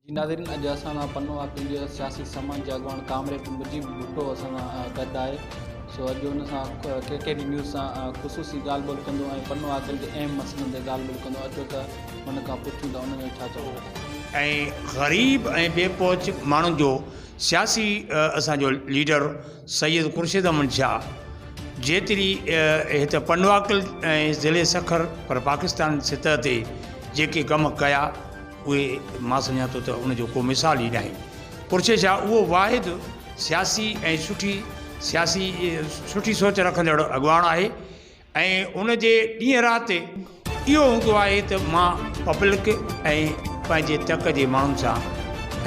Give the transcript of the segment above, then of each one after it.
جي ناظرين اڄ اسان سان پنو آهي پنهنجي سياسي سماج جي اڳواڻ ڪامريڊ مجيب ڀٽو اسان سان گڏ آهي سو اڄ ان سان ڪي ڪي ڊي نيوز سان خصوصي ڳالهه ٻولهه ڪندو ۽ پنو عاقل جي اهم مسئلن تي ڳالهه ٻولهه ڪندو اچو ته هن کان پڇون ته ان جو ڇا چوڻ آهي. ۽ غريب ۽ بي پهچ ماڻهن جو سياسي اسان جو ليڊر سيد خورشيد احمد شاهه جيتري هت پنوعاقل ۽ ضلعي سکر پر پاڪستان سطح تي جيڪي ڪم ڪيا اهي مان سمجهان ٿو ته ان جو ڪو مثال ئي ناهي. پرچي شاهه اهو واحد سياسي ۽ سٺي سياسي سٺي سوچ رکندڙ اڳواڻ آهي ۽ ان جي ڏينهن رات اهو هوندو آهي ته مان پبلڪ ۽ پنهنجي تڪ جي ماڻهن سان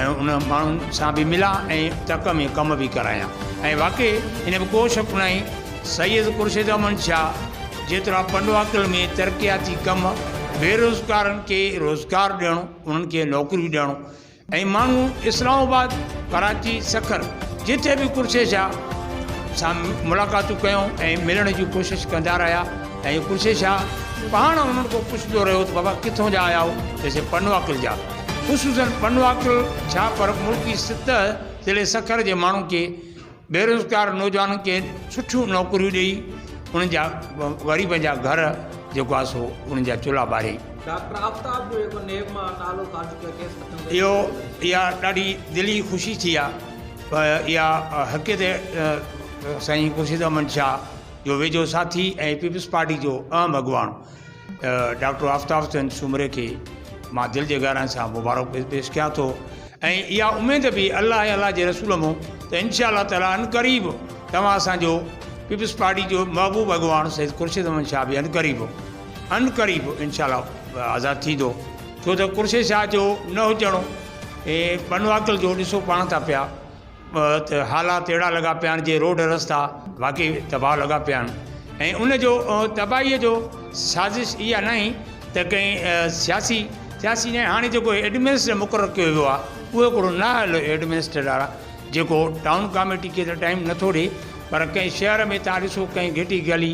۽ ان ماڻهن سان به ملان ۽ تڪ ۾ ڪم به ڪرايان ۽ واقعي ان ۾ ڪو شڪ ناهي سيد خورشيد احمد شاهه جيترا پنڊواڪل ۾ ترقياتي ڪم، بيروزگارن کي روزگار ڏيڻ، انهن کي نوڪريون ڏيڻ ۽ ماڻهو اسلام آباد، ڪراچي، سکر جتي به خورشيد شاهه سان ملاقاتون ڪيون ۽ ملڻ جي ڪوشش ڪندا رهيا ۽ خورشيد شاهه پاڻ انهن کان پڇندو رهيو ته بابا ڪٿون جا آيا آهو؟ چيسين پنڊواڪل جا. خصوصاً پنڊواڪل ڇا پر ملڪ جي سطح ضلعي سکر جي ماڻهن کي بيروزگار نوجوانن کي سٺيون نوڪريون ڏئي انهن جا غريبن جا گهر جيڪو آهي سو انهن جا چلها ٻاري. ڊاڪٽر آفتاب جو جيڪو نيب مان نالو خارج ڪيو کيس مٿن تي اهو اها ڏاڍي دلي خوشي ٿي آ ۽ اها حقيت سائين خورشيد احمد شاهه جو ويجهو ساٿي ۽ پيپلز پارٽي جو اهم اڳواڻ ڊاڪٽر آفتاب چند سومري کي مان دل جي گهرائين سان مبارڪ پيش ڪيان ٿو ۽ اها اميد به الله ۽ الله جي رسول مون ته انشاء الله تعاليٰ ان قريب توهان اسانجو پيپلز پارٽي جو محبوب اڳواڻ سيد خورشيد احمد شاهه به ان قريب ان قريب انشاء الله آزاد ٿيندو ڇو ته خورشيد شاهه جو نه هجڻ ۽ بنواڪل جو ڏسو پاڻ ٿا پيا ته حالات اهڙا لڳا پيا آهن جي روڊ رستا واقعي تباهه لڳا پيا آهن ۽ ان جو تباهيء جو سازش اها ناهي ته ڪنهن سياسي سياسي ناهي هاڻي جيڪو ايڊمنسٽريٽر مقرر ڪيو ويو آهي اهو هڪڙو نااهل ايڊمنسٽريٽر آهي جيڪو ٽائون ڪاميٽي کي ته ٽائيم نٿو ڏي پر ڪنهن شهر ۾ تان ڏسو ڪنهن گهٽي گلي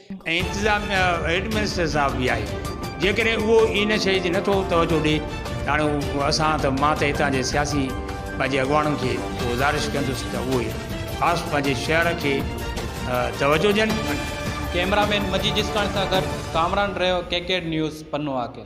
۽ انتظاميا ايڊمنسٽريٽر صاحب به آهي جيڪڏهن اهو ان شيء جي نٿو توجهه ڏي ته هاڻي اسان ته مان ته هتان جي سياسي پنهنجي اڳواڻن کي گذارش ڪندس ته اهي خاص پنهنجي شهر کي توجهه ڏين. ڪئميرا مين مجيد جسڪاڻي سان گڏ ڪامران رهيو ڪيڪيڊ نيوز پنو آڪر.